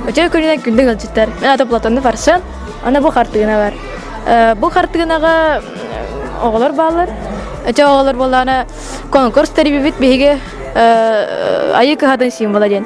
Өтө көрүнэн күндүк ыалдьыттар. Мен аты Платонну Фаршан. Аны бу хартыына бар. Бу хартыынаҕа оҕолор бааллар. Өтө оҕолор буоллаана конкурс тэрибибит биһиги айыы кыһатын символа диэн.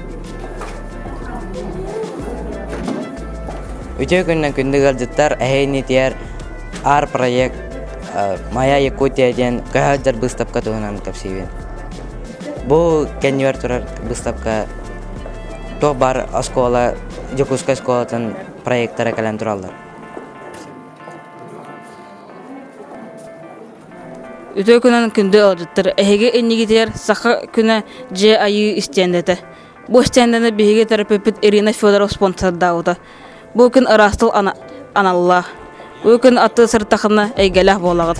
Үтүө күннэн күндү ыалдьыттар эһэ иннитигэр ар проект Моя Якутия диэн көһөөддөр быыстапка туһунан кэпсиибин. Бу кэннибэр турар быыстапка туох бар оскуола Дьокуускай оскуолатын проектара кэлэн тураллар. Үтүө күнүн күндү ыалдьыттар! Эһиги иннигитигэр Саха күнэ дьиэ айыы истиэндэтэ. Бу истиэндэни биһиги төрөппүппүт Ирина Федорова спонсордаабыта. Бу күн ыраастыл ана- аналлаах. Бу күн аттыы сыртахына эйгэлээх буолаҕыт.